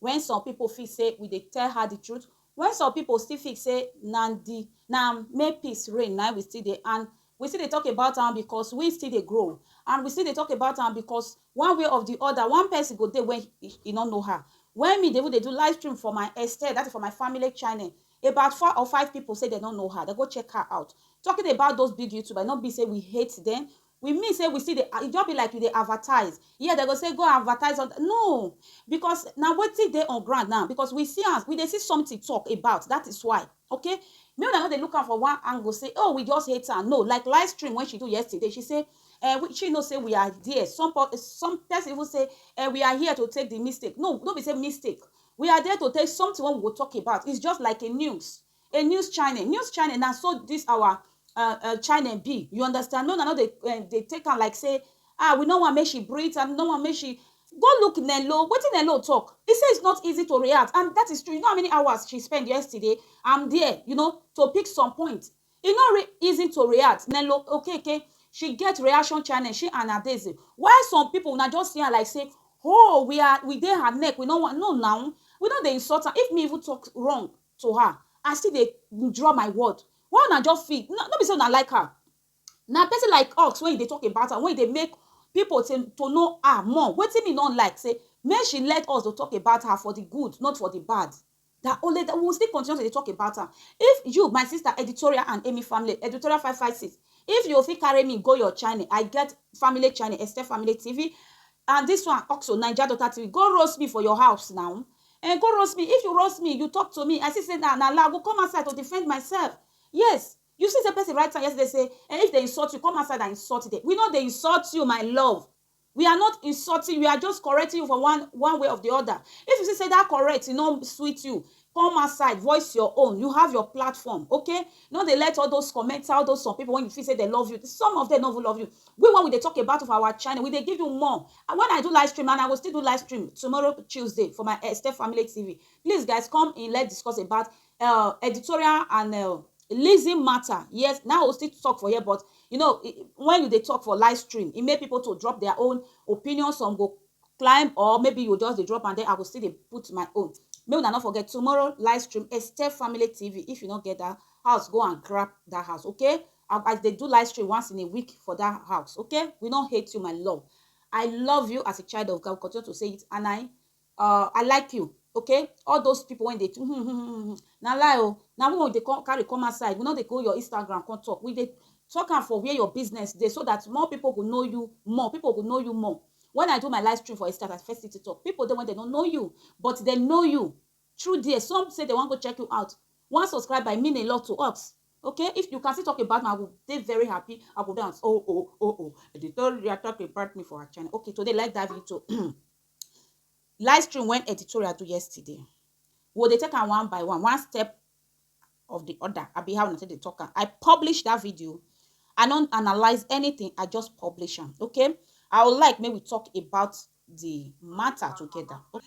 When some people feel say we dey tell her the truth when some people still feel say na the na may peace reign na we still dey and we still dey talk about am because we still dey grow and we still dey talk about am because one way of the other one person go dey when he, he no know her when me dey even dey do live stream for my extend that is for my family channel about four or five people say they no know her they go check her out talking about those big youtubers no be say we hate them We mean say we still dey e just be like you dey advertise here dem go say go advertise on no because na wetin dey on ground now because we see am we dey see something talk about that is why okay make una no dey look am for one angle say oh we just hate am no like live stream when she do yesterday she say eh we she know say we are there some some person even say eh we are here to take the mistake no no be say mistake we are there to take something wey we go talk about it's just like a news a news channel news channel na so this our uh, uh, channel be you understand no na no dey uh, dey take am like say ah we no wan make she breathe and no wan make she go look Nello wetin Nello talk he say it's not easy to react and that is true you know how many hours she spend yesterday I'm there you know to pick some point e no re easy to react Nello okay okay she get reaction channel she and Adeze while some people na just see am like say oh we are we dey her neck we no wan no now we no dey insult am if me even talk wrong to her I still dey withdraw my word why una just feel no, no be say una like her na person like us when you dey talk about am when you dey make people to, to know her more wetin me no like say make she let us to talk about her for the good not for the bad that only that we will still continue to dey talk about am if you my sister editorial and amy family editorial five five six if you fit carry me go your channel i get family channel extend family tv and this one also naija daughter tv go roast me for your house now Ehn go roast me, if you roast me, you talk to me, I see say na na lie, I go come outside to defend myself, yes, you see say person write am yesterday say ehn if dem insult you, come outside and insult them, we no dey insult you my love, we are not insulting you, we are just correcting you for one one way of the other, if you see say that correct e no sweet you, come outside voice your own, you have your platform, okay, no dey let all those commenter, all those some people wey you feel say dem love you, some of them no even love you, We wen we dey talk about for our channel we dey give you more and wen I do live stream and I go still do live stream tomorrow Tuesday for my Esther family TV please guys come in let's discuss about uh, editorial and uh, Lizzy matter yes now I go still talk for here but you know when you dey talk for live stream e make people to drop their own opinion some go climb or maybe you just dey drop and then I go still dey put my own make una no forget tomorrow live stream Esther family TV if you no get that house go and grab that house okay I I dey do live stream once in a week for that house, okay? We no hate you, my love. I love you as a child of God. We continue to say it, and I, uh, I like you, okay? All those people when they, na lie oh, na when they come carry come outside, we no dey go your Instagram come talk. We dey talk am for where your business dey, so that more people go know you more. People go know you more. When I do my live stream for Instagram, I first city talk. People dey when they don't know you, but they know you. through there some say dem wan go check you out one subscriber e mean a lot to us okay if you can still talk about me i go dey very happy i go dance oh oh oh oh editorial talk about me for our channel okay today let's dive into live stream when editorial do yesterday we dey take am one by one one step of the other i be how una take dey talk am i publish that video i no analyze anything i just publish am okay i would like make we talk about the matter together okay.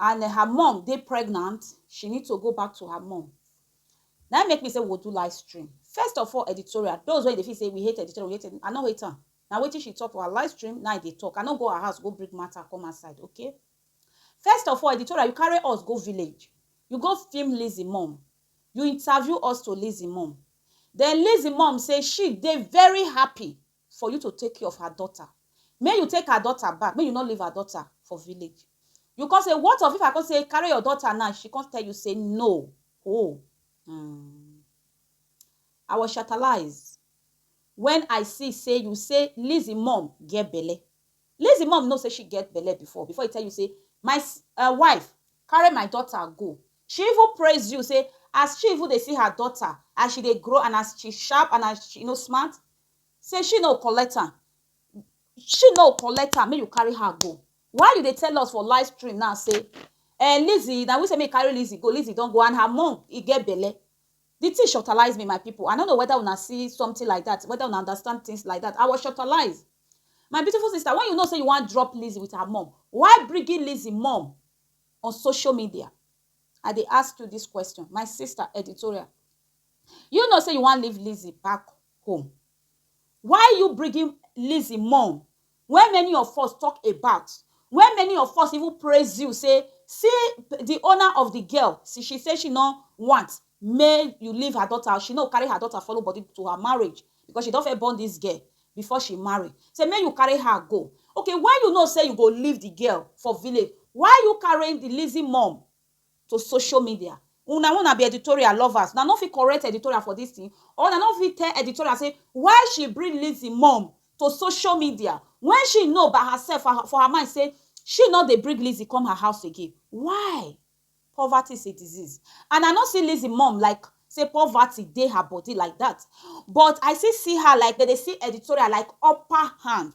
and her mum dey pregnant she need to go back to her mum na im make me say we go do live stream first of all editorial those wey dey feel say we hate editorial we hate i no hate am na wetin she talk for her live stream na i dey talk i no go her house go bring matter come her side okay first of all editorial you carry us go village you go film Lizzy mum you interview us to Lizzy mum then Lizzy mum say she dey very happy for you to take care of her daughter, make you take her daughter back, make you no leave her daughter for village. You come say what of if I come say carry your daughter now, she come tell you say no, oh hmm. I was shatalized when I see say you say Lizzy mom get belle. Lizzy mom know say she get belle before, before e tell you say my s- uh, wife carry my daughter go. She even praise you say as she even dey see her daughter as she dey grow and as she sharp and as she you know smart, Say she no collect am she no collect am make you carry her go why you dey tell us for live stream now say eh Lizzy na we say make carry Lizzy go Lizzy don go and her mom e get belle the thing shortalize me my people I no know whether una see something like that whether una understand things like that I was shortalized my beautiful sister when you know say you wan drop Lizzy with her mom why bringing Lizzy mom on social media I dey ask you this question my sister editorial you know say you wan leave Lizzy back home why you bringing Lizzy mum wey many of us talk about wey many of us even praise you say see the owner of the girl see she say she no want make you leave her daughter she no carry her daughter follow body to her marriage because she don first born this girl before she marry say make you carry her go okay why you know say you go leave the girl for village why you carrying the Lizzy mum to social media una wey una be editorial lovers una no fit correct editorial for this thing or una no fit tell editorial say why she bring Lizzy mom to social media when she know by herself for her, for her mind say she no dey bring Lizzy come her house again why poverty is a disease and I no see Lizzy mom like say poverty dey her body like that but I still see her like dem dey see editorial like upper hand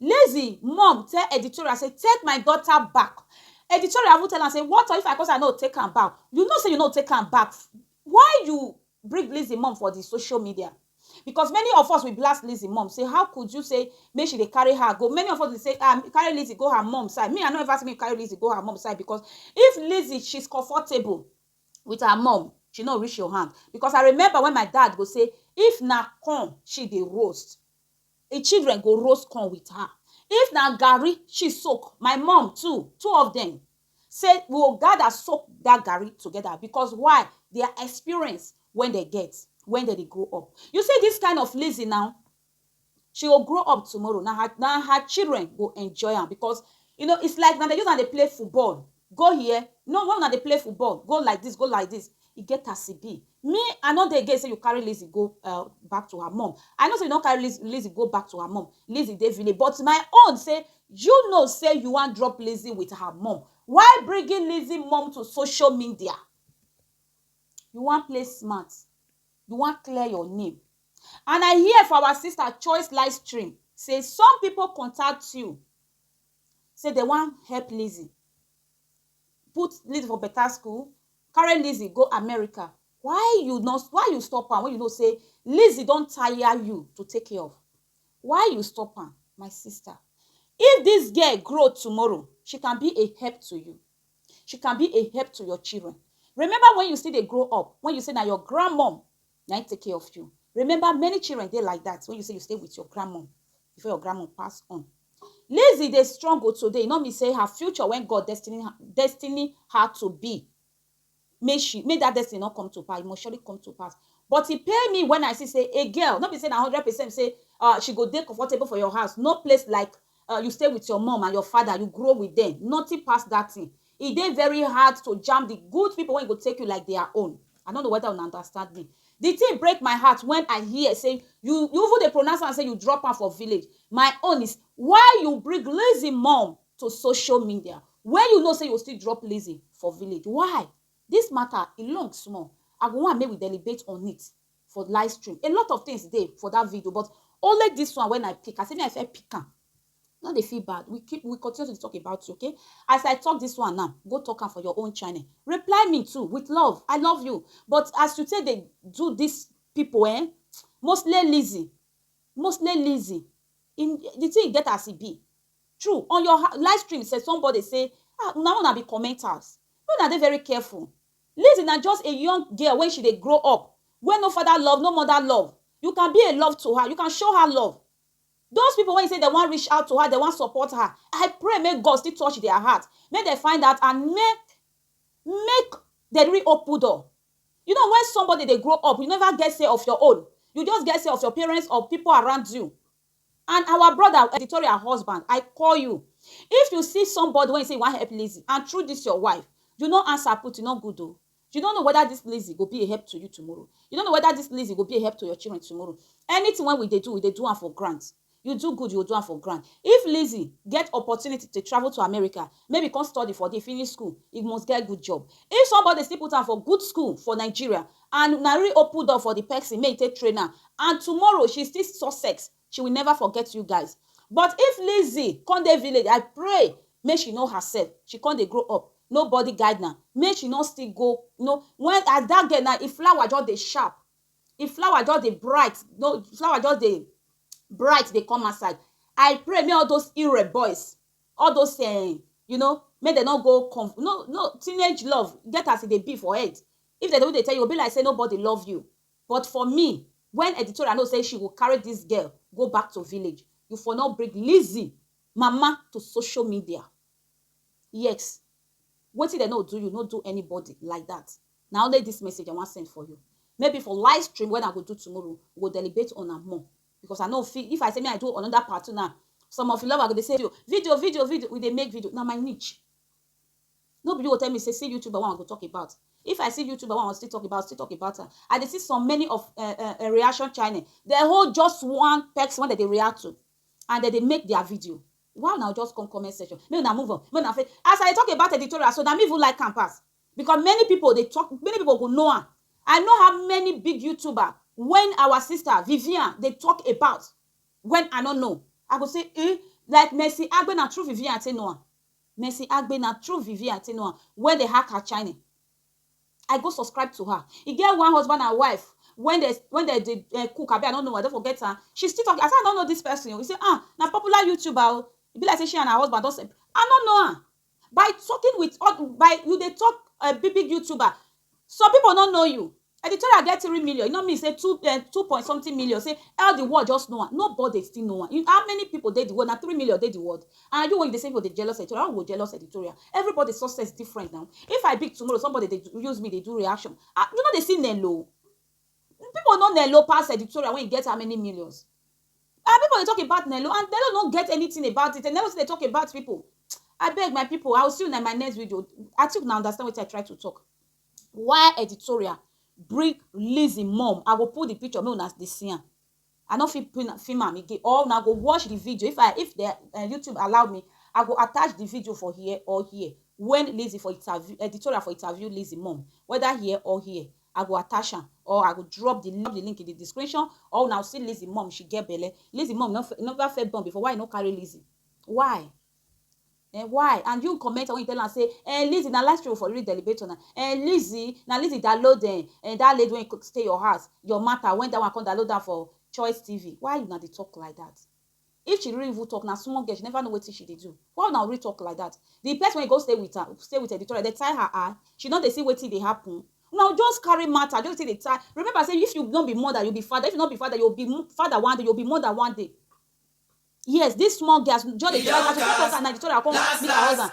Lazy mom tell editorial say take my daughter back, editorial even tell am say what of if I come say I no go take am back, you know say you no go take am back why you bring Lizzy mom for the social media because many of us we blast Lizzy mom say how could you say make she dey carry her go, many of us dey say ah carry Lizzy go her mom side, me I no ever say make you carry Lizzy go her mom side because if Lizzy she's comfortable with her mom she no reach your hand because I remember when my dad go say if na corn she dey roast Im children go roast corn with her. If na garri she soak, my mum too, two of dem, say we go gather soak dat garri together because why? Their experience wey dem get when dem dey grow up. You see dis kind of Lizzy now, she go grow up tomorrow, na her na her children go enjoy am because you know it's like na dem use am dey play football Go here, no why una dey play football, go like this, go like this, e get as e be. Me I no dey against say you carry Lizzy go um back to her mum, I know say you don carry Lizzy Lizzy go back to her mum, Lizzy dey village but my own say you know say you wan drop Lizzy with her mum, why bringing Lizzy mum to social media? You wan play smart, you wan clear your name and I hear for our sister Choice Livestream say some people contact you, say dem wan help Lizzy, put Lizzy for better school, carry Lizzy go America, why you no why you stop am when you know say Lizzy don tire you to take care of? Why you stop am my sister? If this girl grow tomorrow, she can be a help to you, she can be a help to your children. Remember when you still dey grow up, when you say na your grand mum na im take care of you. Remember many children dey like that when you say you stay with your grandmom before your grandmom pass on. Lizzy dey struggle today e no mean say her future when God destiny destiny her to be make she make that destiny no come to pass e must surely come to pass but e pain me when I see say a girl no be say na hundred percent say uh, she go dey comfortable for your house no place like um you stay with your mom and your father, you grow with them, nothing pass that thing. E dey very hard to jam the good people wey go take you like their own. I no know whether una understand me. The thing break my heart when I hear say you you even dey pronounce am say you drop am for village. My own is why you bring Lizzy mom to social media when you know say you go still drop Lizzy for village. Why? This matter e long small. I go want make we deliberate on it. for live stream a lot of things dey for that video but only this one when i pick as if i fit pick am no dey feel bad we keep we continue to talk about you okay as i talk this one now go talk am for your own channel reply me too with love i love you but as you take dey do this people eh mostly lazy mostly lazy in the thing get as e be true on your live stream say somebody say ah una una be commenters no na dey very careful Lizzy na just a young girl wen she dey grow up wen no father love no mother love you can be a love to her you can show her love those people wen say dem wan reach out to her dem wan support her I pray make God still touch their heart make dem find out and make make dem re open door you know wen somebody dey grow up you never get say of your own you just get say of your parents or people around you And our brother or editorial husband, I call you, if you see somebody wey you say you wan help Lizzy and through this your wife, you no answer put, e no good o. You no know whether this Lizzy go be a help to you tomorrow. You no know whether this Lizzy go be a help to your children tomorrow. Anything wey we dey do, we dey do am for ground. You do good, you go do am for ground. If Lizzy get opportunity to travel to America, Maybe he come study for there, finish school, he must get good job. If somebody still put am for good school for Nigeria and na really open door for the person make he take train am and tomorrow she still success, she will never forget you guys. But if Lizzy come dey village, I pray make she know herself, she come dey grow up, nobody guide am, make she no still go you know when as that girl now, im flower just dey sharp, im flower just dey bright, no flower just dey bright dey come outside. I pray make all those Irre boys all those um you know make dem no go come no no teenage love get as e dey be for head if dem dey dey tell you go be like say nobody love you but for me when editorial know say she go carry this girl go back to village you for no bring Lizzy mama to social media yes wetin dem no do you no do anybody like that na only this message I wan send for you maybe for live stream when I go do tomorrow we go deliberate on am more because I no fit if I say me I do another part two now some of you lovers go dey say video video video we dey make video na my niche no be you go tell me say see youtuber one I go talk about if I see youtuber one I still talk about still talk about am I dey see some many of uh, uh, uh, reaction channel they hold just one person wey dem dey react to and dem dey make their video why una just come comment section make una move on make una fit as I dey talk about editorial so na me even like am pass Because many people dey talk, many people go know am. I know how many big YouTuber when our sister Vivian dey talk about when I no know. I go say, eh, like Mercy Agbe na through Vivian I take know am. Mercy Agbe na through Vivian I take know am when they hack her channel. I go subscribe to her. E get one husband and wife when they when they dey uh, cook, abi I don't know, I don't forget her. She still talk. I say I don't know this person. We say, ah, na popular YouTuber. Oh. E be like say she and her husband don. I don't know her. by talking with other by you dey talk uh, big big youtuber some people no know you editorial get three million you know me say two uh, two point something million say all the world just know am nobody still know am you, how many people dey the world na three million dey the world and you wey you dey say people dey jealous editorial i go jealous editorial everybody success different now if i big tomorrow somebody dey use me dey do reaction ah you no dey see nello people no nello pass editorial when you get how many millions Our people dey talk about Nello and Nello no get anything about it and Nello still dey talk about people abeg my people I will see una in my next video I think una understand wetin I try to talk why editorial bring Lizzy mom I go put the picture make una dey see am I no fit pin am film am again or una go watch the video if I if the uh, YouTube allow me I go attach the video for here or here when Lizzy for interview editorial for interview Lizzy mom whether here or here I go attach am or I go drop the the link in the description or una go see Lizzy mom she get belle Lizzy mom no never first born before why you no carry Lizzy why eh why and you commenter when you tell am say eh Lizzy na life story for real delibator na eh Lizzy na Lizzy download eh, eh that lady wey stay your house your matter when that one come download am for Choice TV why una dey talk like that. If she really even talk, na small girl, she never know wetin she dey do. Why una ori talk like that? The person wey go stay with am, stay with Victoria, dey tie her eye? She no dey see wetin dey happen? Una just carry matter, just take dey tie. Remember say if you no be mother, you be father. If you no be father, you go be father one day, you go be mother one day. Yes, this small girl, as we just dey try catch her, she come talk say na Victoria come meet her husband.